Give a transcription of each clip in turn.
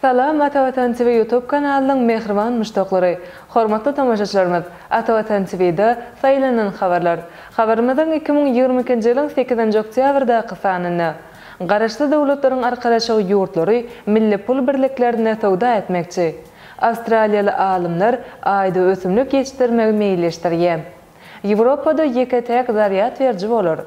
Salam Atavatan TV Youtube kanalynyň mähriban muşdaklary! Hormatly tomaşaçylarymyz! Atavatan TV-da Saýlanan habarlar. Habarymyzyň iki müň ýigrimi ikinji ýylyň sekizinji oktýabrdaky sanynda, Garaşsyz Döwletleriň Arkalaşygy ýurtlary milli pul birliklerinde söwda etmekçi. Awstraliýaly alymlar Aýda ösümlik ýetişdirmegi meýilleşdirýär. Ýewropada ýeke-täk zarýad beriji bolar.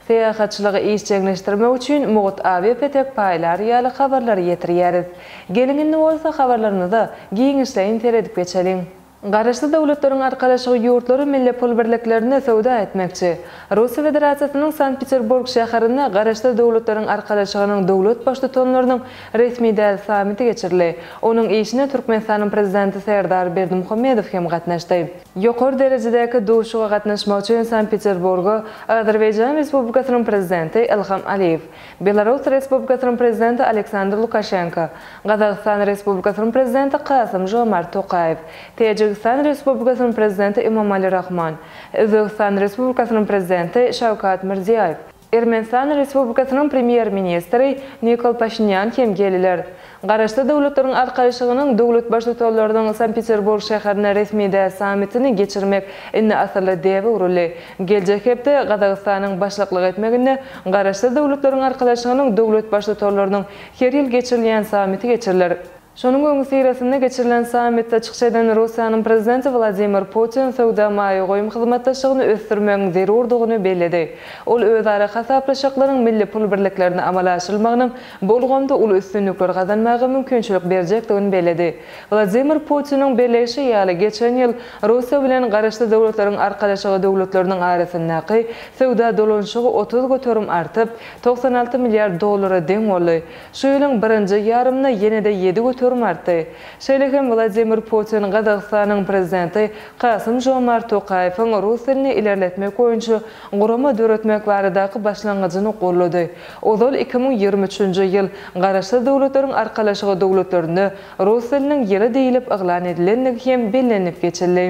Syýahatçylygy işjeňleşdirmek üçin mugt awiapetek paýlary ýaly habarlary ýetirýäris. Geliň indi bolsa habarlarymyza giňişleýin seredip geçeliň. Garaşsyz Döwletleriň Arkalaşygy ýurtlary milli pul birliklerinde söwda etmekçi. Russiýa Federasiýasynyň Sankt-Peterburg şäherinde Garaşsyz Döwletleriň Arkalaşygynyň döwlet baştutanlarynyň resmi däl sammiti geçirildi. Onuň işine Türkmenistanyň Prezidenti Serdar Berdimuhamedow hem gatnaşdy. Ýokary derejedäki duşuşyga gatnaşmak üçin Sankt-Peterburga Azerbaýjan Respublikasynyň Prezidenti Ilham Aliýew, Belarus Respublikasynyň Prezidenti Aleksandr Lukaşenko, Gazagystan Respublikasynyň Prezidenti Kasym-Žomart Tokaýew, Täjigistan Respublikasynyň Prezidenti Emomali Rahmon, Özbegistan Respublikasynyň Prezidenti Şawkat Mirziýoýew, Ermenistan Respublikasynyň Premýer-ministri Nikol Paşinýan hem gelýär. Garaşsyz Döwletleriň Arkaýşygynyň döwlet Baştutanlarynyň Sankt-Peterburg şäherinde resmi däl sammitini geçirmek indi asylly däbe öwrüldi. Geljek hepde Gazagystanyň başlyklyk etmeginde Garaşsyz Döwletleriň Arkalaşygynyň döwlet Baştutanlarynyň her ýyl geçirilýän sammiti geçiriler. Şonuň öňüsyrasynda geçirilen sammitde çykyş eden Russiýanyň Prezidenti Wladimir Putin söwda-maýa goýum hyzmatdaşlygyny ösdürmegiň zerurdygyny belledi. Ol özara hasaplaşyklaryň milli pul birliklerinde amala aşyrylmagynyň bu ulgamda uly üstünlikler gazanmaga mümkinçilik berjekdigini belledi. Wladimir Putiniň belleýşi ýaly, geçen ýyl Russiýa bilen Garaşsyz Döwletleriň Arkalaşygy döwletleriniň arasyndaky söwda dolanyşygy otuz göterim artyp, togsan alty milliard dollara deň boldy. Şu ýylyň birinji ýarymynda ýene-de ýedi göterim artdy. Şeýle hem Wladimir Putin Gazagystanyň Prezidenti Kasym-Žomart Tokaýewiň rus dilini ilerletmek boýunça gurama döretmek baradaky başlangyjyny goldady. Ozal iki müň ýigrimi üçünji ýyl Garaşsyz Döwletleriň Arkalaşygy döwletlerinde rus diliniň ýyly diýlip yglan edilendigi hem bellenilip geçildi.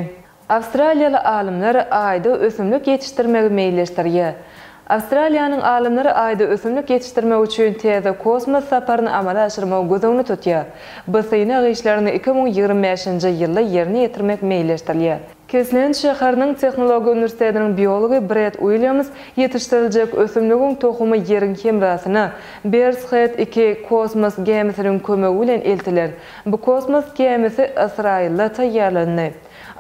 Awstraliýaly alymlar Aýda ösümlik ýetişdirmegi meýilleşdirýär. Awstraliýanyň alymlary Aýda ösümlik ýetişdirmek üçin täze kosmos saparyny amala aşyrmagy göz öňüne tutýar. Bu synag işlerini iki müň ýigrimi bäşinji ýylda ýerine ýetirmek meýilleşdirilýär. Kesland şäheriniň Tehnologiýa uniwersitetiniň biology Bred Uilýams ýetişdiriljek ösümligiň tohumy Ýeriň hemrasyna, Bears Head iki, kosmos gämisiniň kömegi bilen eltiler. Bu kosmos gämisi Ysraýylda taýýarlandy.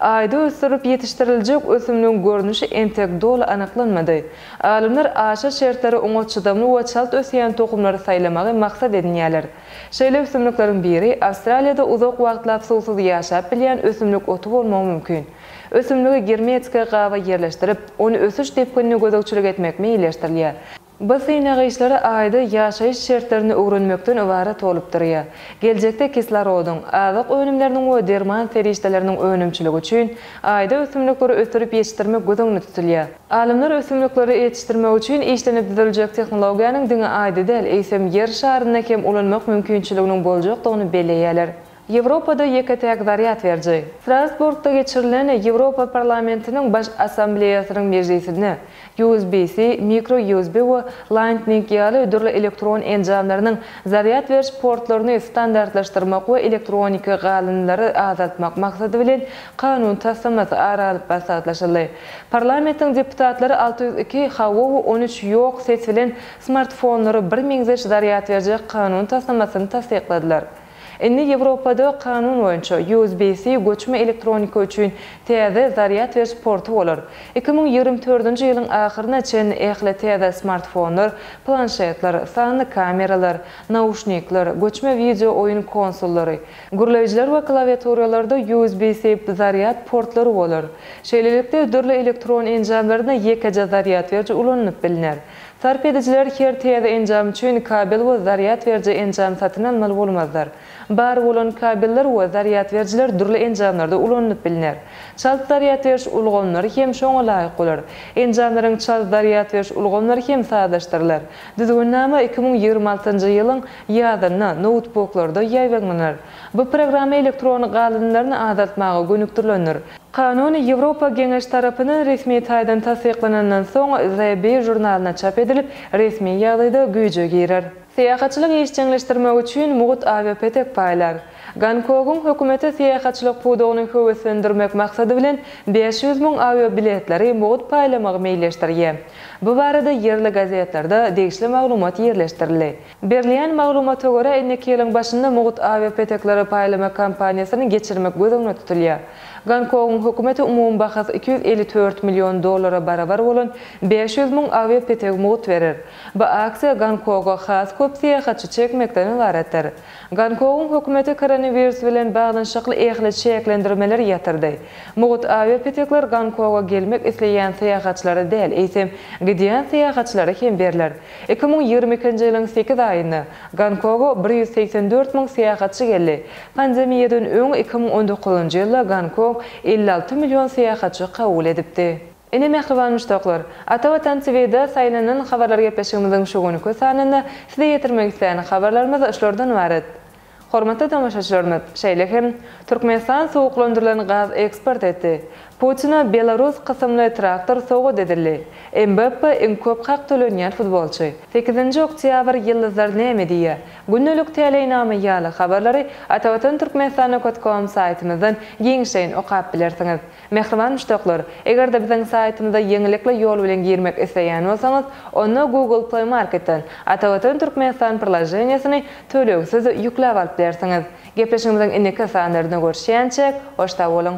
Aýda ösdürilip ýetişdiriljek ösümligiň görnüşi entek doly anyklanmady. Alymlar aşa şertlere oňat çydamly we çalt ösýän tohumlary saýlamagy maksat edinýärler. Şeýle ösümlikleriň biri Awstraliýada uzak wagtlap suwsuz ýaşap bilýän ösümlik oty bolmagy mümkin. Ösümligi germetiki gaba ýerleşdirip, ony ösüş depginine gözegçilik etmek meýilleşdirilýär. Bu synag işleri Aýda ýaşaýyş şertlerini öwrenmekden ybarat bolup durýar. Geljekde kislorodyn, azyk önümleriniň we derman serişdeleriniň önümçiligi üçin Aýda ösümlikleri ösdürip ýetişdirmek göz öňünde tutulýar. Alymlar ösümlikleri ýetişdirmek üçin işlenip düzüljek tehnologiýanyň diňe Aýda däl, eýsem Ýer şarynda hem ulanmak mümkinçiliginiň boljakdygyny belleýärler. Ýewropada ýeke-täk zarýad beriji. Strasburgda geçirilen Ýewropa Parlamentiniň Baş Assambleýasynyň mejlisinde USB-C, mikro-USB we Lightning ýaly dürli elektron enjamlarynyň zarýad beriş portlaryny standartlaşdyrmak we elektroniki galyndylary azaltmak maksady bilen kanun taslamasy ara alyp maslahatlaşyldy. Parlamentiň deputatlary alty ýüz iki hawa we on üç ýok ses bilen smartfonlara birmeňzeş zarýad berjek kanun taslamasyny tassykladylar. Indi Ýewropada kanun boýunça USB-C göçme elektronika üçin täze zarýad beriş porty bolar. Iki müň ýigrimi dördünji ýylyň ahyryna çen ähli täze smartfonlar, planşetler, sanly kameralar, nauşnikler, göçme wideo oýun konsollary, gürleýjiler we klawiaturalarda USB-C zarýad portlary bolar. Şeýlelikde, dürli elektron enjamlarynda ýekeje zarýad beriji ulanylyp bilner. Sarp edijiler her täze enjam üçin kabel we zarýad beriji enjam satyn almaly bolmazlar. Bar bolan kabeller we zarýad berijiler dürli enjamlarda ulanylyp bilner. Çalt zarýad beriş ulgamlary hem şoňa laýyk bolar. Enjamlaryň çalt zarýad beriş ulgamlary hem sazlaşdyrylar. Düzgünnama iki müň ýigrimi altynjy ýylyň ýazynda noutbuklarda ýaýbaňlanar. Bu programma elektron galyndylaryny azaltmaga gönükdirilendir. Kanun Ýewropa Geňeşi tarapyndan resmi taýdan tassyklanandan soň, The Bee žurnalynda çap edilip, resmi ýagdaýda güýje girer. Syýahatçylyk işjeňleşdirmek üçin mugt awiapetek paýlar. Gonkogyň hökümeti syýahatçylyk pudagyny höweslendirmek maksady bilen bäş ýüz müň awiabiletleri mugt paýlamagy meýilleşdirýär. Bu barada ýerli gazetlerde degişli maglumat ýerleşdirildi. Berilýän maglumata görä, indiki ýylyň başynda mugt awiapetekleri paýlamak kampaniýasyny geçirmek göz öňünde tutulýar. Gonkogyň hökümeti umumy bahasy iki ýüz elli dört million dollara barabar bolan bäş ýüz müň awiapetegi mugt berer. Bu aksiýa Gonkoga has köp syýahatçy çekmekden ybaratdyr. Gonkogyň hökümeti koronawirus bilen baglanyşykly ähli çäklendirmeleri ýatyrdy. Mugt awiapetekler Gonkoga gelmek isleýän syýahatçylara däl, eýsem, gidýän syýahatçylara hem berler. Iki müň ýigrimi ikinji ýylyň sekiz aýynda Gonkoga bir ýüz segsen dört müň syýahatçy geldi. Pandemiýadan öň iki müň on dokuzynjy ýylda Gonkong elli alty million syýahatçy kabul edipdi. Ine mähriban muşdaklar, Ata Watan TV-de saýlanan habarlar gepleşigimiziň şu günki sanynda size ýetirmek isleýän habarlarymyz şulardan ybarat. Hormatly tomaşaçylarymyz, şeýle hem, Türkmenistan suwuklandyrylan gaz eksport etdi, Putine belarus kysymly traktor sowgat edildi, Mbappe iň köp hak tölenýän futbolçy, Sekizinji oktýabr ýyldyzlar näme diýýär, Gündelik täleýnama ýaly habarlary atavatan turkmenistanokotkom saýtymyzdan giňişleýin okap bilersiňiz. Mähriban muşdaklar, eger-de biziň saýtymyza ýeňillikli ýol bilen girmek isleýän bolsaňyz, onda Google Play Marketden Atavatan Türkmenistan prlaženiýesini tölegsiz ýükläp alyp bilersiňiz. Gepleşigimiziň indiki sanlarynda görüşýänçäk, hoş sag boluň!